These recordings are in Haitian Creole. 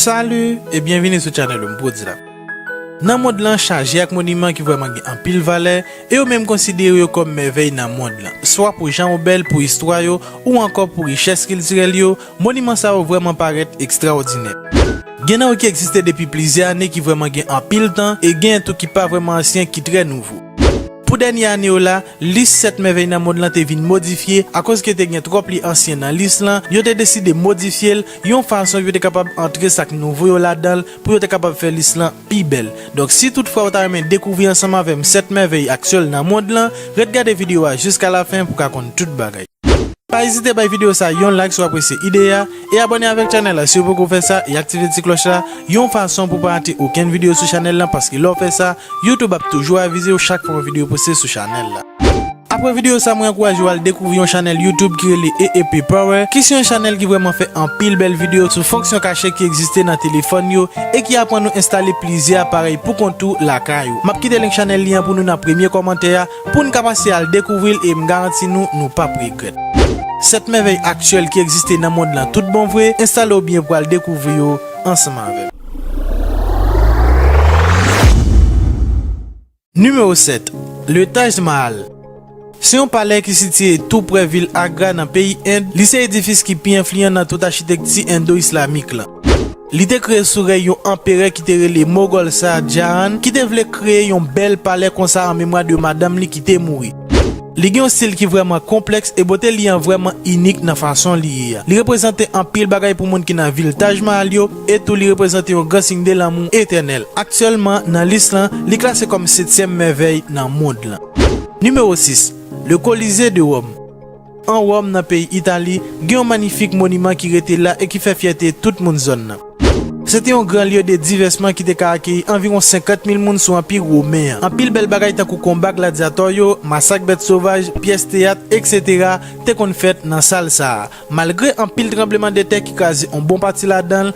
Salut et bienvenue sou channel ou m Prod Zlap. Nan mond lan chaje ak moniman ki vrèman gen anpil valè e yo menm konsidere yo kòm mèvèy nan mond lan, swa pou jan yo bèl, pou istwa yo ou ankò pou richès kiltirèl yo, Moniman sa yo vrèman parèt ekstraòdinè. Gen nan yo ki egziste depi plizyè ane ki vrèman gen anpil tan e genyen tou ki pa vrèman ansyen ki trè nouvo. Pou dènye ane yo la, lis sèt mèvèy nan monn lan te vin modifye akoz ke te gen twòp li ansyen nan lis lan, yo te deside modifye l yon fason yo te kapab antre sa k nouvo yo ladan l pou yo te kapab fè lis lan pi bèl. Donk si tout fwa ou ta renmen dekouvri ansanm avè m sèt mèvèy aktyèl nan monn lan, ret gade videyo a jiskalafen pou ka konn tout bagay. Pa ezite bay video sa yon like si w apresye ide a, e abòne avèk channel la si w poko fè sa e aktive ti klòch la yon fason pou w pa rate okenn video sou channel lan paske lè w fè sa YouTube ap toujou avize w chak fwa yon video poste sou channel la. Apre video sa mwen ankouraje w al dekouvri yon channel YouTube ki rele EEP Power ki se yon channel ki vrèman fè anpil bèl video sou fonksyon kache ki egziste nan telefòn yo e ki aprann ou enstale plizyè aparèy pou kont ou lakay ou. Map kite link channel li an pou nou nan premye kòmantè a. Poun ka pase al dekouvri'l e m'garanti nou nou pap regrèt. 7 mèvèy aktyèl ki egziste nan mond lan tout bon vre, enstale w byen pou al dekouvri yo ansanm avèm. Nimewo 7, Le Taj Mahal Se yon palè ki sitiye tou prè vil Agra nan peyi End, li se edifis ki pi enfliyan nan tout achitekti Endo-Islamik lan. Li te kreye sou rèy yon anperè ki te rele Mogol Shah Jahan ki te vle kreye yon bèl palè konsa an memwa de madanm li ki te mouri. Li gen yon stil ki vrèman konplèks e bote li an vrèman inik nan fason li ye a. Li reprezante anpil bagay pou moun ki nan vil Taj Mahal yo e tou li reprezante yon gran siy de lanmou etènèl. Aktyèlman, nan lis lan, li klase kòm setyèm mèvèy nan mond lan. Nimewo 6, Le Colisée de Rome. An Wòm, nan peyi Itali, gen yon manyifik moniman ki rete la e ki fè fyète tout moun zòn nan. Se te yon gran lye de divèsman ki te ka akeyi anviwon 50 mil moun sou Anpi women an. Anpil bèl bagay tankou konba gladyatò yo, masak bèt sovaj, pyès teyat, eksetera, te konn fèt nan sal sa a. Malgre anpil tranbleman de tè ki kraze yon bon pati ladan l,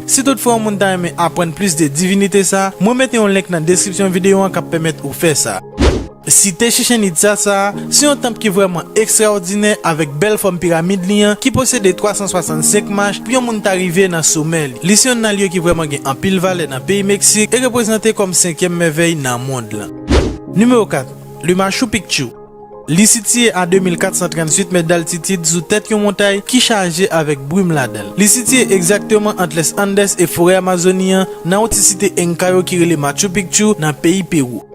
Si tout fwa yon moun ta renmen aprann plis de divinite sa, mwen mete yon link nan deskripsyon video an kap pèmèt ou fè sa. Site Chichen Itza sa a, se yon tanp ki vrèman ekstraòdinè avèk bèl fòm piramid li an ki posede 365 mach pou yon moun ta rive nan somè li. Li se yonn nan lye ki vrèman gen anpil valè nan peyi Meksik e reprezante kòm senkyèm mèvèy nan mond lan. Nimewo 4, Le Machu Picchu. Li sitiye a 2438 mèt daltitid sou tèt yon montay ki chaje avèk brim ladan l. Li sitiye egzakteman ant Les Andes e forè Amazoni an, nan yon ti site Enka yo ki rele Machu Picchu, nan peyi Pewou.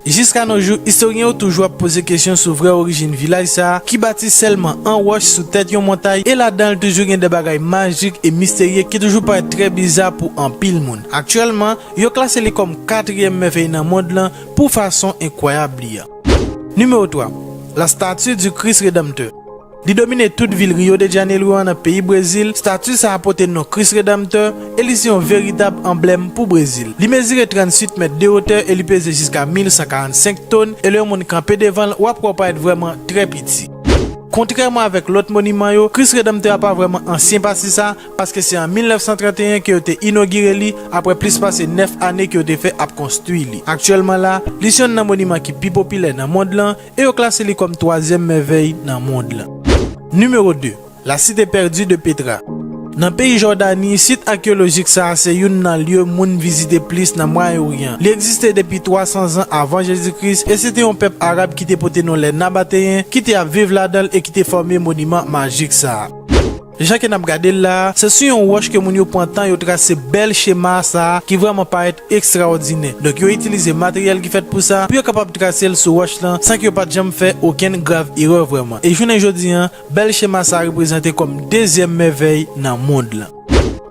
Jiska no jou, istoryen yo toujou ap poze kesyon sou vrè orijin vilaj sa a, ki bati sèlman an wòch sou tèt yon montay e ladan l toujou gen de bagay majik e misterye ki toujou parèt trè biza pou anpil moun. Aktyèlman, yo klase li kòm katriyèm mèvèy nan mond lan pou fason enkwayab li. Nimewo 3, La Statue du Christ Rédempteur Li domine tout vil Rio de Janeiro a nan peyi Brezil, stati sa a pote non Kris Redanmtè e li se yon veritab anblèm pou Brezil. Li mezire 38 mèt de wotè e li peze jiska 1.145 ton e lè yon moun kanpe devan l, w ap kwè w parèt vrèman trè piti. Kontrèman avèk lòt moniman yo, Kris Redanmtè a pa vrèman ansyen pati sa a, paske se an 1931 ke yo te inogire li apre plis pase 9 ane ke yo te fè ap konstwi li. Aktyèlman la, li se yonn nan moniman ki pi popilè nan mond lan e yo klase li kòm twazyèm mèvèy nan mond lan. Nimewo 2, La Cité Perdue de Petra Nan peyi Jòdani, sit akeyolojik sa a se youn nan lye moun vizite plis nan Mwayen Oryan. Li egziste depi 300 zan avan Jezi Kris e se te yon pèp arab ki te pote non lè Nabateyen ki te ap viv ladan l e ki te fòme moniman majik sa a. Jan ke nap gade l la a, se sou yon wòch ke moun yo pran tan yo trase bèl chema sa a ki vrèman parèt ekstraòdinè. Donk yo itilize materyèl ki fèt pou sa, pou yo kapab trase l sou wòch lan san ke yo pat janm fè okenn grav erè vrèman. E jounen jodi an, bèl chema sa a reprezante kòm dezyèm mèvèy nan mond lan.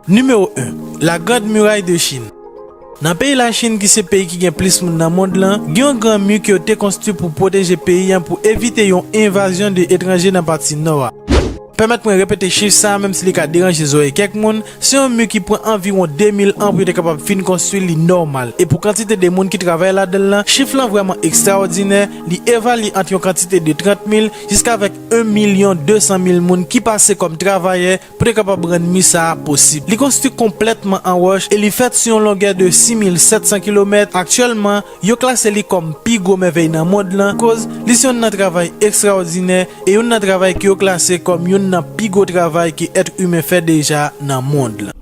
Nimewo 1, La Grande Muraille de Chine. Nan peyi Lachin ki se peyi ki gen plis moun nan mond lan, gen yon gran mi ke yo te konstwi pou pwoteje peyi an pou evite yon envazyon de etranje nan pati nò a. Pèmèt mwen repete chif sa a menm si li ka deranje zorèy kèk moun, se yon mi ki pran anviwon 2000 an pou yo te kapab fin konstwi li nòmal. E pou kantite de moun ki travay ladan l lan, chif lan vrèman ekstraòdinè, li evalye ant yon kantite de 30 mil jiskavèk 1 milyon 200 mil moun ki pase kòm travayè, Pou te kapab rann mi sa a posib, li konstwi konplètman an wòch e li fèt sou yon longè de 6,700 kilomèt. Aktyèlman, yo klase li kòm pi gwo mèvèy nan mond lan koz li se youn nan travay ekstraòdinè e youn nan travay ke yo klase kòm youn nan pi gwo travay ke èt imen fè deja nan mond lan.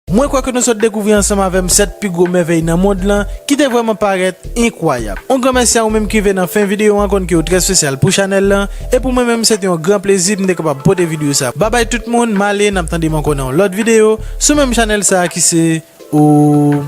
Mwen kwè ke nou sot dekouvri ansanm avè m 7 pi gwo mèvèy nan mond lan ki te vrèman parèt enkwayab. On gran mèsi a ou menm ki rive nan fen videyo an konn ke ou trè spesyal pou chanèl lan e pou mwen menm se te yon gran plezi pou m te kapab pote videyo sa babay tout moun m ale n ap tande m ankò nan yon lòt videyo sou menm chanèl sa ki se ou.